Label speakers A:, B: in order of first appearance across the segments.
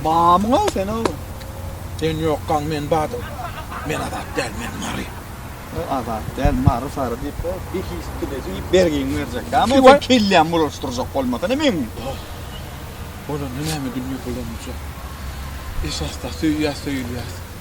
A: Mamyň-a sen o. Sen
B: ýokgaň men badym. Men azat däl, men mary. O azat
A: däl, mary sary diýip, bir his dile diýip bergiňi berjek. Ýa-da sen kellämi bulaşdyrjak bolmasa näme ediň?
B: Bolanda näme dünýe bulanjak. Esasda söýýär, söýülýär.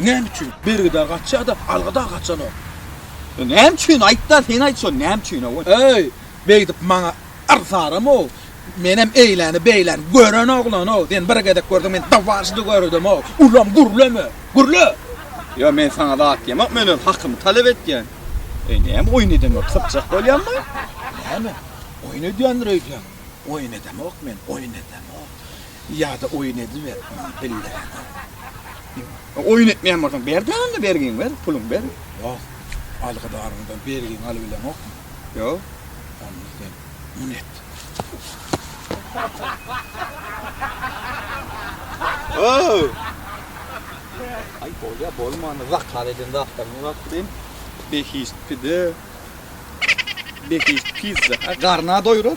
B: Näme üçin? Bergidar gaçýa-da, alga dagy gaçanok. Näme
A: üçin? Aýt-da, sen aýt şony, näme üçin, hawa? Eý, beýdip
B: maňa yrsarama-ow. Menem eýläni-beýläni gören oglan-ow. Sen bir gezek görseň, men dwaždy göredem-ow. Ulam gürleme! Gürle! Ýa, men
A: saňa zat diýemok, men öz hakymy talap etýän. Eý, näme oýun edemok, sypjak bolýammy? Näme?
B: Oýun edýändir öýdýäň? Oýun edemok men, oýun edemok. Ýa-da oýun ediber muny bildirene.
A: Ýa-da oýun etmeýän bolsaň ber-de onda bergiňi ber, puluňy ber. Ýok,
B: algydaryňdan bergiňi alybileňokmy? Ýok.
A: Onda sen
B: muny et.
A: Ow! Aý, bolýar, bolmanda zakaz eden zatlaryňy gapdym. Behişt pide. Behişt pizza. Garny-a doýrar.